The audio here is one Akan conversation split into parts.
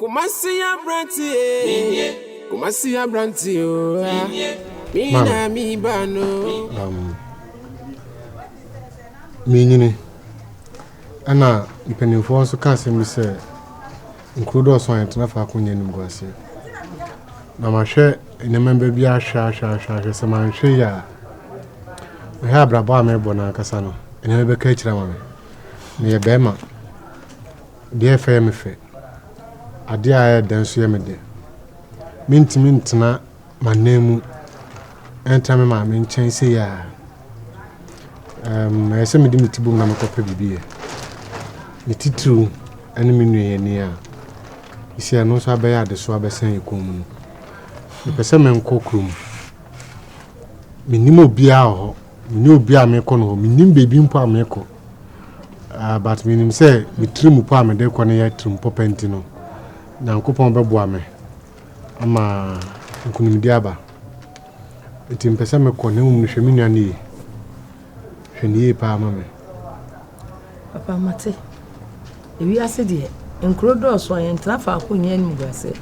Kumasi abrante ee, Kumasi abrante oo, mi na mi ba no. Um, menyini ɛna mpanimfoɔ nso ka asɛm bi sɛ nkuro dɔɔso a yɛntena faako nyɛ animguaseɛ na mahwɛ nneɛma ba bi ahwɛ ahwɛ ahwɛ ahwɛ sɛ manhwɛ yi a mehwɛ abrabɔ a mebɔ no ankasa no nneɛma bɛka akyira ma me meyɛ bɛrima Deɛ ɛyɛ fɛ yɛ me fɛ, adeɛ a ɛyɛ dɛ nso yɛ me dɛ. Mentumi ntena m'ananmu ntra me maame nkyɛn sei a. Um, ɛyɛ sɛ mede me ti bom na mekɔpɛ biribi yɛ. Ne titiriw ne me nua yɛ ni a, ɛsi ɛno nso abɛyɛ adesoa bɛsɛn yɛ kɔn mu no. Mepɛ sɛ menkɔ kurom. Menim obiara wɔ hɔ. Menni obi a mekɔ no hɔ. Mennim baabi mpo a mekɔ. Uh, but menim sɛ me tirim po a mede kɔ no yɛ tirim pɔpɛ nti no, Nyankopɔn bɛboa me ama nkonimdi aba. Nti mpɛ sɛ mekɔ, na mmom no hwɛ me nua no yie. Hwɛ no yie paa ma me. Papa mate. Ewiase deɛ, nkuro dɔɔso a yɛntena faako nyɛ animguaseɛ.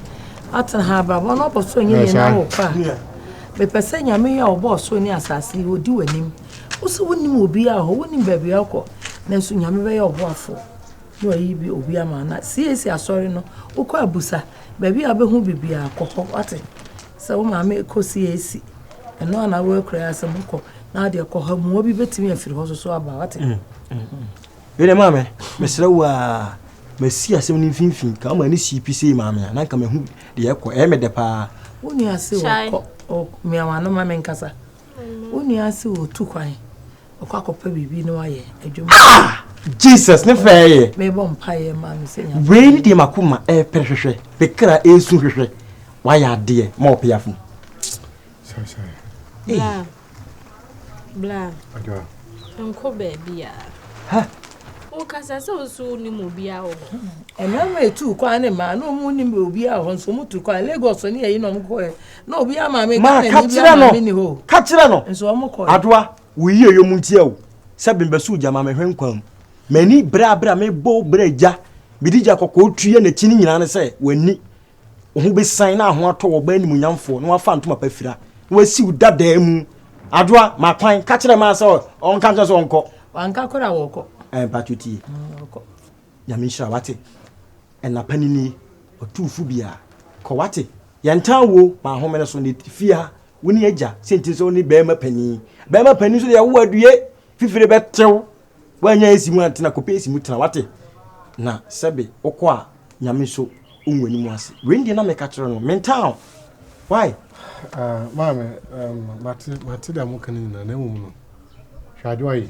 Atena ha abrabɔ no ɔbɔ soro nyɛ deɛ na wɔ kɔ a. Mepɛ sɛ nyame yi a ɔbɔɔ soro ne asase yi ɔdi w'anim. Wo so wonim obi a hɔ, wonim baabi a ɔkɔ. Nanso nyame bɛyɛ ɔboafoɔ na wayi bi obi ama na CAC asɔre no wokɔ abusa baabi a wobɛhu bibiaa kɔ hɔ wate. Sɛ wo maame rekɔ CAC, ɛno a na woakura asɛm kɔ na adeɛ kɔ ha mua bi bɛtumi afiri hɔ soso aba wate. Mm, mm, mm. Wede maame, mesrɛ wo a masi asɛm no mfimfini ka woma ne sii pi sei maame a na nka mahu deɛ ɛkɔ ɛyɛ medɛ paa. Wo nua se wɔkɔ mmeawa no ma menkasa. Wo nua se wɔtu kwan. ɔkɔ akɔpɛ biribi na wayɛ adwuma. ah jesus ne fɛɛ yɛ. mebɔ mpa yɛ ma no sɛ nya. wei ne deɛ mako ma ɛpere eh, hwehwɛ ne kra ɛsu hwehwɛ wayɛ adeɛ ma ɔpɛ afo. bla bla nko baabi a. wokasa sɛ wo so wonim obiaa wɔ hɔ ɛmɛma ɛtu kwan ne ma na ɔmu nim obiaa wɔ hɔ nso ɔmu tu kwan lagos ne yɛyi na ɔmkɔɛ Na obiara maame Ma Ghana ka ni obiara kyerɛ no. maame ni hɔ o. Ka kyerɛ no. Nso wɔn kɔɛ. Adoa, wo yie yɛ mu ntia o. Sɛ bemba suu gya ma me hwɛ nkwa mu. M'ani bere a bere a mebɔ wo bra gya. Mede gya kɔkɔɔ tua n'akyi ne nyinaa ne sɛ w'ani. Wo ho besian na aho atɔ wo ɔbaa animuonyamfoɔ na wafa ntoma pa fira na wasi wo dadaa mu. Adoa, ma kwan. Ka kyerɛ Maa sɛ ɔnka nkyerɛ no sɛ ɔnkɔ. Wanka koraa wɔkɔ. Ɛɛ mpakyɛ tie. Wɔkɔ. Nyame nhyira wate ɛnapa ni ni ɔtumfo bia kɔ wate yɛntaa wo ma ahomene so ne fia wo ne agya sentiri sɛ wo ne bɛrima panin bɛrima panin so deɛ wo adue fifire bɛtew woanya esi mu antena kɔpɛ esi mu tena wate na sɛbe wokɔ a nyame so wonwa ni mu ase wei deɛ na meka kyerɛ no mentaa why uh, maame um, mate mate deɛ moka no nyinaa na mmom no hwɛ adeɛ ɔye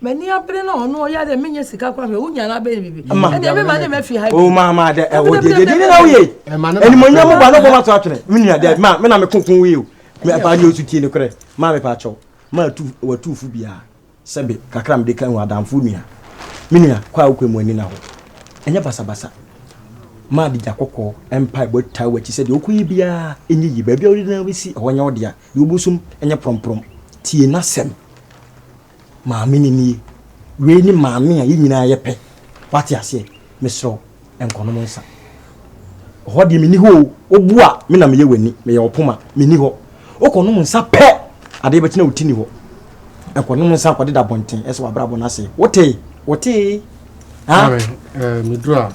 Mani abere na ɔno ɔyɛ dɛ menyɛ sika kora hwɛ wonya no abɛyɛ biribi ɛdeɛ mema ne mafi ha o maama dɛ ɛwɔ deɛ deɛ deɛ na woyɛ animonyam mo ba no bɔ mato atwene me nua dɛ ma me na meko ko woyɛ o mefa deɛ ɔsu tie ne korɛ ma mepa kyɛw ma watuufo biara sɛbe kakra mede ka hu adamfo nua me nua kɔ a wokɔ mu ani na hɔ ɛnyɛ basabasa ma de gya kɔkɔɔ mpa ɛbɔ taa wakyi sɛ deɛ wokɔyɛ biara ɛnyɛ yi baabi a wode na wobɛsi ɛhɔ nyɛ wo dea deɛ wobɛsum ɛnyɛ prɔmprɔm tie n'asɛm Maame no nie. Wei ne maame a yɛn nyinaa yɛ pɛ. Wate aseɛ? Mesrɛ wo, nkɔnom nsa. Hɔ deɛ menni hɔ o. Wobu a, me na meyɛ w'ani. Meyɛ wo poma. Menni hɔ. Wokɔnom nsa pɛ, adeɛ bɛkye na wo ti nni hɔ. Nkɔnom nsa nkɔdeda abɔnten sɛ w'abrabɔ no asɛe. Wotee? Wotee? Ha? Karen, eh, meduru a,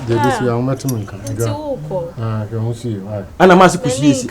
deɛ ɛde si a, wobɛte me nka. Nti wokɔ. Ah, hwɛ ho sie. Ana maa se kɔsiesie.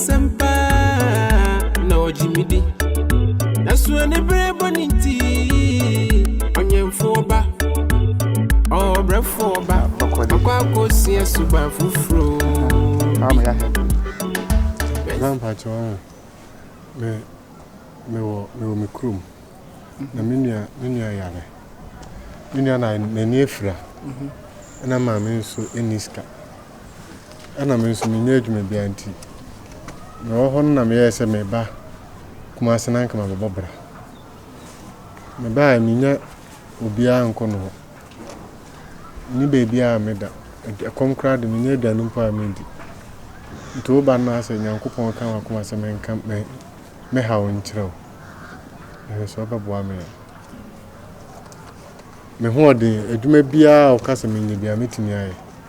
Asempa na ɔgye me di. Nanso anibere bɔ ne nti, ɔnyɛmfoɔ ba, ɔbrɛfoɔ ba, makɔ akɔsua suban foforɔ bi. Grandpa kyerɛ wɔn me mewɔ mewɔ me kurom na me nua me nua yare me nua na n'ani afira ɛna maame nso ɛni sika. Ɛna me nso mennya adwuma biara nti, mewɔ hɔ no na meyɛɛ sɛ meba Kumase na anka mabɛbɔ bra. Mebaeɛ mennya obiara nkɔ no hɔ. Menni baabiara a meda. Ɛkɔm koraa de mennya aduane mpo a mendi. Nti woba no na sɛ Nyankopɔn ka m'akoma sɛ menka me haw nkyerɛ wo. Mehwɛ sɛ wobɛboa me a. Me hoɔden, adwuma biara a woka sɛ menyɛ biara mɛtumi ayɛ.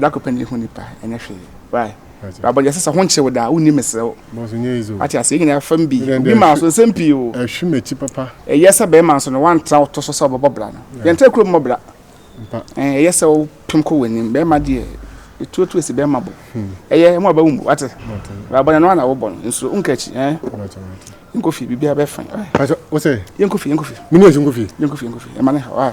Dako pɛ na ehu nipa ɛnyɛ hwee why baba yɛ sisa ho nkye wo da wo ni mesrɛ wo ate ase yɛ nyinaa fam bi obi maa so nsɛm pii o ɛhwe m'akyi papa ɛyɛ sɛ bɛrima nso no wantra wo to so sɛ ɔbɛbɔ bra no yɛntra kurom mmɔ bra ɛyɛ sɛ wo pem kɔ w'anim bɛrima deɛ ɛtuatu asi bɛrima bo ɛyɛ ɛmo aba wo mu wate baba yɛ no ana wobɔ no nsuo wonka akyi yɛnkɔ fie biribiara bɛfa yɛnkɔ fie yɛnkɔ fie yɛnkɔ fie yɛnkɔ fie ɛma ne ha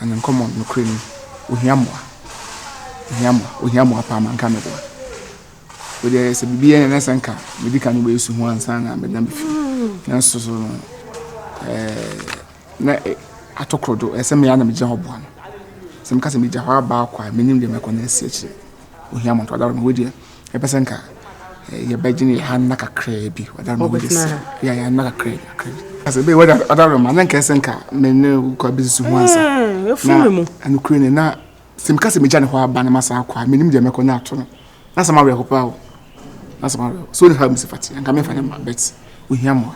And nkɔmɔ nokorɛ ni ohia mmoa ohia mmoa ohia mmoa paa ma nka mɛboa wei deɛ sɛ biribi yɛ na sɛ nka medi kan wobɛyɛ su ho ansa na meda me fi nanso so no na atokoro do ɛsɛ me ana megyina hɔ boa no sɛ meka sɛ megya hɔ abaa kwa menim deɛ mɛkɔ na asi akyire ohia mmoa to adaworo no wei deɛ Yɛpɛ sɛ nka yɛbɛgye ne hanna kakraa bi ɔda ma wode sɛ yɛ yɛhanna kakraa bi kakraa bi asɛ bɛyɛ wɔde ɔda roma na nka ɛsɛ nka me ne kɔ abɛsusu ho ansa na anokure ne na sɛ meka sɛ megya ne hɔ aba na masa akɔ a menim deɛ mɛkɔ no ato no na sɛ mawerɛ ho paa o na sɛ mawerɛ so ne ha msi fate anka memfa ne ma bet ohia mmoa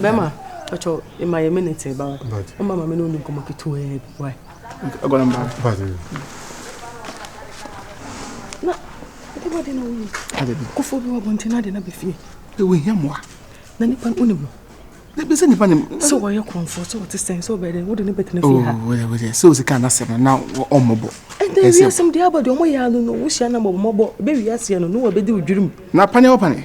Bɛma, patro, ma yɛ minute ba wa. Ɔma ma me ne ɔni nkɔmɔ ketewa bi wa. Agora mba. Na, ɛde wɔ de na woyi. Kofo bi wɔ bɔnten na de na bɛfie. Ewu hia mmoa. Na nipa no onim no. Na bi sɛ nipa nim. Sɛ wɔyɛ kɔnfo, sɛ wɔte sɛn, sɛ wɔbɛyɛ dɛn, wode ne bɛtena fie ha. Oh, wɔyɛ wɔyɛ. Sɛ osika na asɛm no na ɔmmɔbɔ. Ɛnna ewia asɛm de aba de ɔmo yɛ ano no, wohyia na mmɔbɔ. Bɛ wia aseɛ no, no wɔ bɛdi odwirim. Na pane wɔ pane.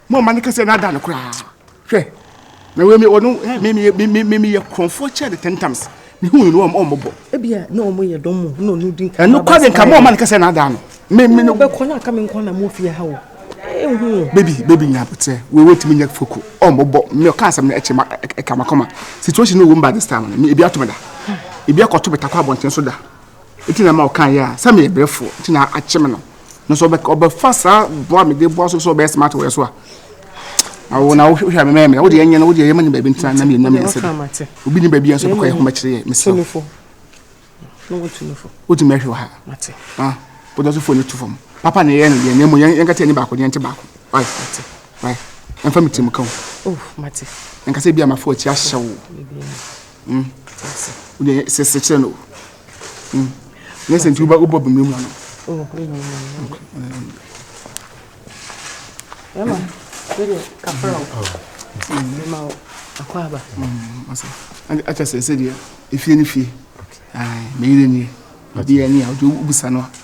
mo ɔma ne kɛseɛ no ada no koraa hwɛ na wei ɔno memeyɛ korɔmfoɔ kyɛ de ten times mehu no no ɔmmɔbɔ ebia na ɔmo yɛ dɔm mu na ɔno di nka ɛno kɔ de nka mo ɔma ne kɛseɛ no ada no meme no bɛkɔ no aka me nkwa na mofie ha o ɛhu baby baby nya abotrɛ wei wɔtumi nyɛ foko ɔmmɔbɔ me ɔka asɛm no ɛkyɛ ma ɛka makɔma situation no wɔ mu ba this time no ebi ato me da ebi akɔto me takɔ abɔnten so da Nti na ma ɔkaeɛ a, sɛ meyɛ brɛfoɔ nti na akye me no. Nanso ɔbɛfa saa bɔ a mede boa so sɛ ɔbɛyɛ smart wɔ yɛ so a, awo na wohwɛ a memɛyɛ mmerɛ. Wodeɛ ɛnyɛ no, wodeɛ yɛma ne baabi ntena na mmienu na mmiɛnsa bi. Obi ne baabi a nso bɛkɔ yɛ homa kyerɛ yɛ mesrɛ. Wotumi ahwɛ wɔ ha. Wode nso fone no to fam. Papa na ɛyɛ no deɛ, na mmom yɛnkata ani baako deɛ nte baako. Ɛmfa me tirim ka o. Ɛnkasa bi a mafa w'akyi ahyɛ wo. Mm. Wode sɛ sɛ kyerɛ no. Mm. Nyɛ sɛ nti wobɔ wobɔ bimire mu ano. Oh, bimire mu ano. Emma, wede kafra o. Emma o, akɔ aba. Mm, asa. Ande akyɛ sɛ sɛ deɛ efie ne fie. Ai, meyere nie. Obi ani a wode wobisa no a.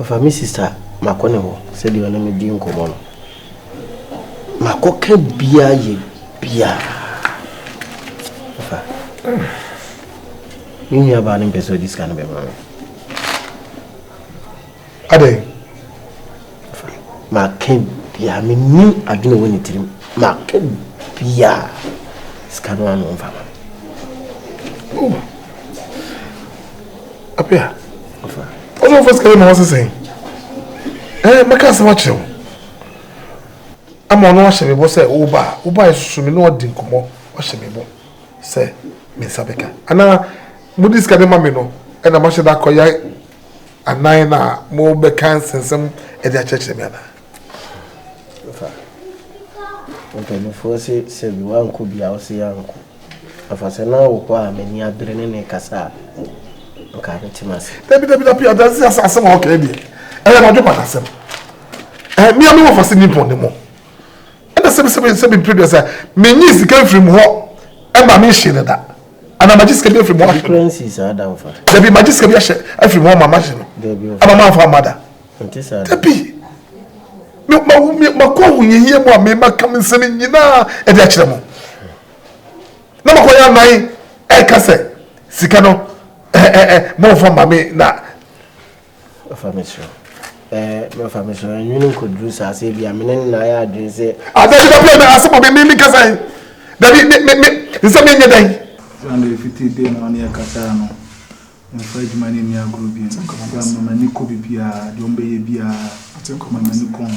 Ɔfa me sista makɔ ne hɔ sɛdeɛ ɔne me di nkɔmmɔ no makɔ ka bia yɛ bia ɔfa me nua baa no mpɛ sɛ ɔde sika no bɛma me adɛn Maka biaa mennim adwene wɔ ne tirim maka biaa sika no ano mfa ma oh. Apia ɔsɛ ɔfa sika ma ɔsɛ sɛn ɛɛ eh, maka asɛm akyerɛ wo ama ɔno ahyɛ me bɔ sɛ woba a woba ɛsoso me ne ɔdi nkɔmmɔ ɔhyɛ me bɔ sɛ me nsa bɛka anaa mode sika de ma me no ɛna mahyɛ da akɔyɛ Anan no a mobɛka nsɛnsɛm de akyerɛkyerɛ me anaa? Fa. Mpanimfoɔ se sɛbi woankɔ bia wose yɛankɔ. Afa sɛ na wokɔ a m'ani abere ne ne kasa a nka metem ase. Dabi dabi dabi adansi asa asɛm a ɔkɛɛ deɛ ɛyɛ madwe pa n'asɛm. Ɛɛ mmea mi wɔfa se nippon ne mo. Ɛna sɛbi sɛbi sɛbi mpere duasa menyi sika mfiri mu hɔ ɛma me nhye ne da. ana magye sika bi afiri mu ahwɛ no dabi magye sika bi ahyɛ afiri mu ama mahye no ama mafa ama da dabi makɔ ahohiahia mu a mema kam nsɛm nyinaa ɛde akyerɛ mu na makɔ yɛ anan ɛka sɛ sika no mɔmfa ma me na Fa me soro. Eh, me fa me soro. Eh, nwini nko duru saa se bi a me ne na ya adwene se. Ada bi da bi na asebo me me kasa yi. Da bi me me nse me nye dan. Sunday fiti day na ɔne yɛ kasaa no, memfa adwuma no nni agorɔ bio. Ɛfiri sɛ, mema m'ani kɔ biribiara, deɛ wɔbɛyɛ biara, mema m'ani kɔ ho.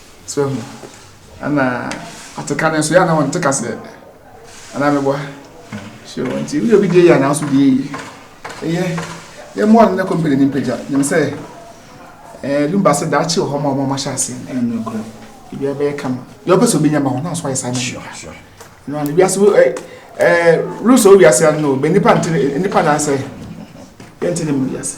So ehu? Ɛna ate ka no nso yɛ a na wɔnte kaseɛ. Anaa meboa? So nti woyɛ obi deɛ yɛ a na wo nso deɛ yɛ yie. Ɛyɛ yɛmmoa no na kɔmpani no mpagya. Nim sɛ ɛɛ lumba sɛ daakye wɔ hɔ ma wɔn a wɔahyɛ ase. Ɛyɛ nokorɛ. Ebiara bɛyɛ kama. Deɛ ɔpɛ sɛ obɛnya ma wo na nso ayɛ saa Sure, sure. No, no, wiase wo eh eh rules o wiase ano no, bɛ nipa nte nipa na sɛ yɛnte ne mu wiase.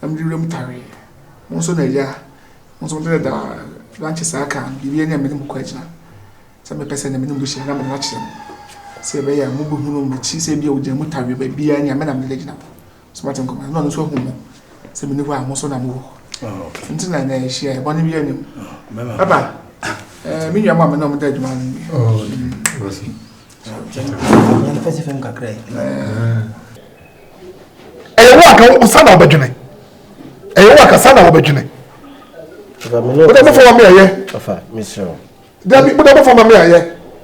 na mede wuram tare. Mo nso na agya, mo nso mode dɛdɛ a lankyɛ saa ka biribi ne a me ne mo kɔ agyina. Sɛ mepɛ sɛ na me ne mo bɛhyia na mede no akyerɛ mo. Sɛ ɛbɛyɛ a mobɛhunu m'akyi sɛ ebia ogya mu tare baabiara ne a me na mede gyina hɔ. So moate nkɔmmɔ no? Na ɔno nso ahu mo sɛ mene hɔ a mo nso na mowɔ hɔ. Nti na na ɛhyia yɛ bɔne biara nim. Papa, me nua mu a me na ɔmo da adwuma no bi. Fɛsifɛm kakra yi. ɛyɛ wo anka wo sa na wobɛdwene ɛyɛ wo anka sa na wobɛdwene wode bɛfa ma me ayɛ dabi wode bɛfa ma me ayɛ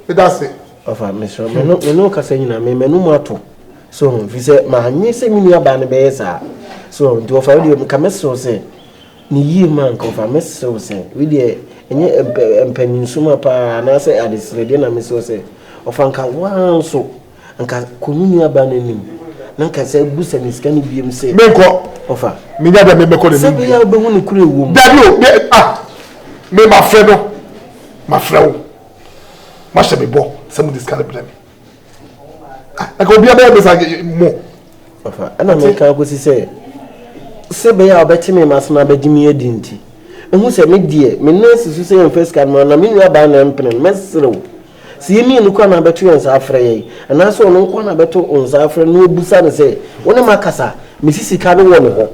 meda ase ɔfa mesrɛ mene kasa nyina me m'anom ato so ho fi sɛ maanye sɛ me nuabaa no bɛyɛ saa so nti ɔfa wodeɛ mka mɛserew sɛ ne yie ma nka ɔfa mɛserew sɛ wodeɛ ɛnyɛ mpanyinso ma paa anaasɛ adeserɛdeɛ na meserew sɛ ɔfa nka woa nso Anka kɔ wo nuabaa no anim na anka sɛ busa no sika no biom sɛ. Menkɔ. Ɔfa. Menya bia mebɛkɔ n'anim. Sɛ bɛyɛ a wobɛhu no koro ɛwɔ mu. Dabi o, me ah, me mafrɛ no, mafrɛ wo, moahyɛ me bɔ sɛ mode sika no brɛ me. Ah, anka obiara bɛyɛ me sa mo. Ɔfa, ɛna meka akɔsi sɛ sɛ bɛyɛ a ɔbɛte me mase na abɛgye me adi nti, ɛhu sɛ me deɛ me nan si so sɛ yɛmfa sika no ma na me nuabaa na ɛmpene no, mɛserew. Sɛ yɛn mmienu koraa na abɛto yɛn nsa afrɛ yɛn, anaasɛ ɔno nko ara na abɛto wo nsa afrɛ na wabisa no sɛ, Wo ne m'akasa a, mesi sika no wɔ ne hɔ?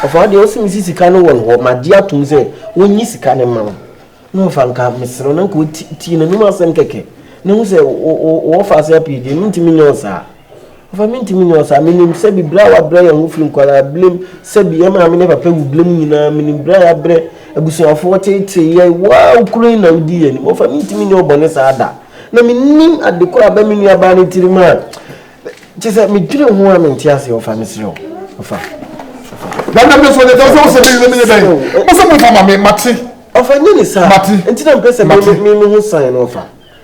Ɔfaa deɛ ɔse mesi sika no wɔ ne hɔ, magye atom sɛ ɔnnye sika no mma wo. Na ɔfaa nka mesrɛ wo, na nka ɔtie n'anom asɛm kɛkɛ, na hu sɛ ɔwɔ faase apue deɛ, mentumi nyɛ wo saa. Ɔfa Mintumi nyɛ ɔsaa. Minim sɛ bere a wɔabrɛ yɛn ho fi nkwadaa-berem, sɛ bi yɛn maame ne papa wu berem nyinaa, minim bere a yɛabrɛ abusuafo, wɔteetee yɛn, woaa wo koro yi na wudii yɛn anim. Ɔfa Mintumi nyɛ ɔbɔne saa da. Na minnim ade koro a aba me nuabaa no tirim a kyerɛ sɛ medwene ho a mente aseɛ. Ɔfa Mesrɛ wo, Ɔfa. Na na me so ne tɔsɛ ɔsɛ me ne me yɛ dɛn? Ɔsɛ mo fa ma me, mate. Ɔfa Nyɛ ne saa. Mate. Nti na mepɛ sɛ me me me ho san no, Ɔfa.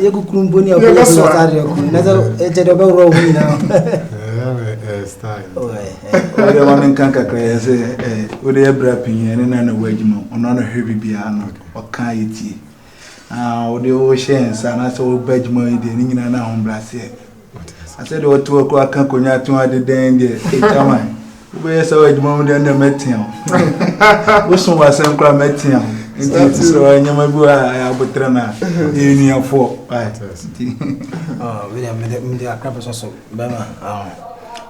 yɛ kukuru mpo ne ɛkɔ yɛ sɛ ɔtare yɛ kuru na sɛ ɛkyɛ dɛ ɔbɛworɔ wo nyinaa ɔyɛ ma menka kakra yɛ sɛ wode ɛbra pii ɛne na na woadwuma ɔno ano hwɛ biribiaa no ɔka yɛ tie wode wohyɛ nsa na sɛ woba adwuma yi deɛ ne nyinaa no ahobrɛaseɛ Asɛ deɛ ɔte hɔ koraa ka konya to ade dɛn deɛ ɛgyaman wobɛyɛ saa wɔ adwuma mu deɛ na mɛtea wo woso wɔ asɛm koraa mɛtea wo nti ɛte sɛ ɔyɛ nneɛma bi wɔ a ɛyɛ aboterɛ no a ɛyɛ nuafoɔ mede akra bɛsɔ so bɛma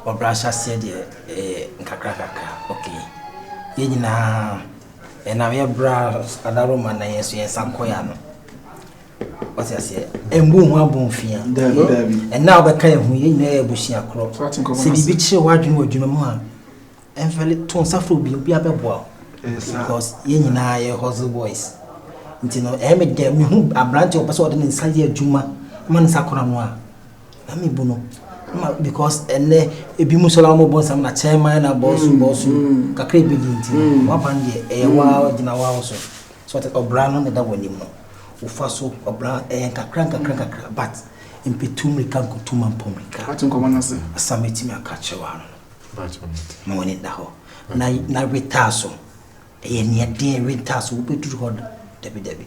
ɔbrɛ ahyɛ aseɛ deɛ nkakrakakra ok yɛ nyinaa ɛnam yɛbrɛ adaro ma na yɛn so yɛn nsa nkɔya no wate aseɛ ɛmbu ho abomfia ɛna wobɛka yɛ ho yɛ nyinaa yɛ abusua korɔ sɛ biribi kyerɛ woadwene wɔ adwuma mu a ɛmfɛle to nsa frɛ obi obi abɛboa wo because yɛ nyinaa yɛ hustle boys nti no ɛyɛ me dɛ mehu aberante ɔpɛ sɛ ɔde ne nsa yɛ adwuma ma ne nsa kora no a na mebu no because ɛnɛ ebi mu sɔla wɔn bɔ nsɛm na kyɛn man na bɔsu bɔsu kakra ebi di nti wɔaban deɛ ɛyɛ waa gyina waa so. So ate ɔbra no na ɛda w'anim no wofa so ɔbra ɛyɛ nkakra nkakra nkakra but mpetu mmirika nkutu ma mpɔ mmirika ate nkɔmɔ no ase asam etimi aka kyerɛ wa no ma w'ani da hɔ na na wetaa so ɛyɛ nea den wetaa so wobɛduru hɔ dabi dabi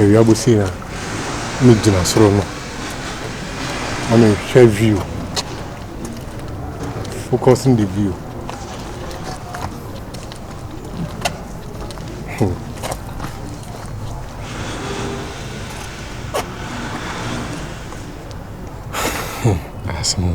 Awia bosuo a me gyina soro no na me hwɛ view focus on the view hmm. hmm. That's me.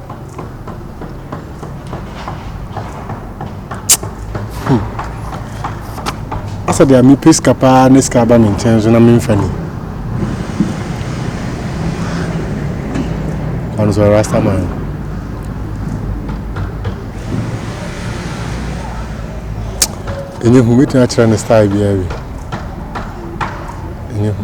Asa deɛ mepɛ sika paa ne sika aba me nkyɛn nso na memfa ni ɔno sɛ rastaman ɛnyɛ hu mɛtumi akyerɛ ne style biara wi ɛnyɛ hu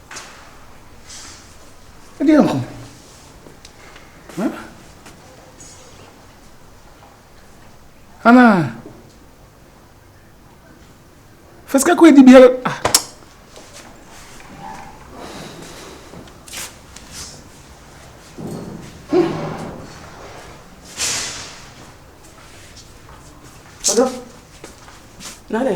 Ɛdeɛ nko. Hã? Anaa? Fa sika kɔ adi biara. Ah. Ɔdɔ. Nane.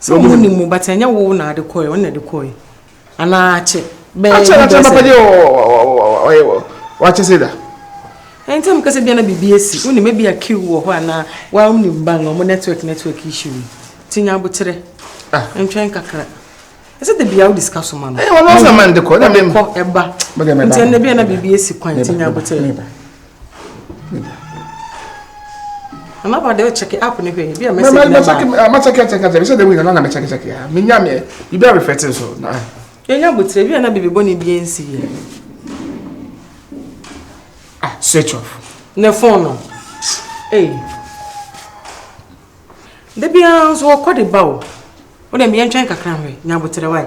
Sɛ ɔmo nim mo but ɛnyɛ wo na de kɔɛ ɔno na de kɔɛ anaa akyɛ bɛɛ akyɛ na akyɛ papa deɛ ɔyɛ wakyɛ sɛ da. Ɛn tɛm kɛsɛ bia na biribi asi wo nim ebi a kiw wɔ hɔ anaa wa wo nim bang ɔmo network network issue yi ti nya abokyerɛ ah. ntwɛn kakra. Ɛsɛ de bia wo discuss so ma no. Ɛyɛ ɔno sɛ man de kɔ na mem kɔ ɛba nti ɛnna bia na biribi asi kwan ti nya abokyerɛ. Mama ba de check app ne hwɛ bi a message na ma. Check ma check check check. Bi se de win na na me check check ya. Me nya me. Bi be reflect so na. Ye nya butire bi na bibi bo ne bi ensi ye. Ah, switch off. Ne phone no. Eh. De bi an so ko de ba o. O de me ntwen kakra hwe. Nya butire wai.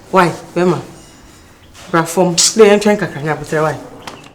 Wai bɛma bra fɔm. Wodɛ yɛntwɛn kakra na abotire wai.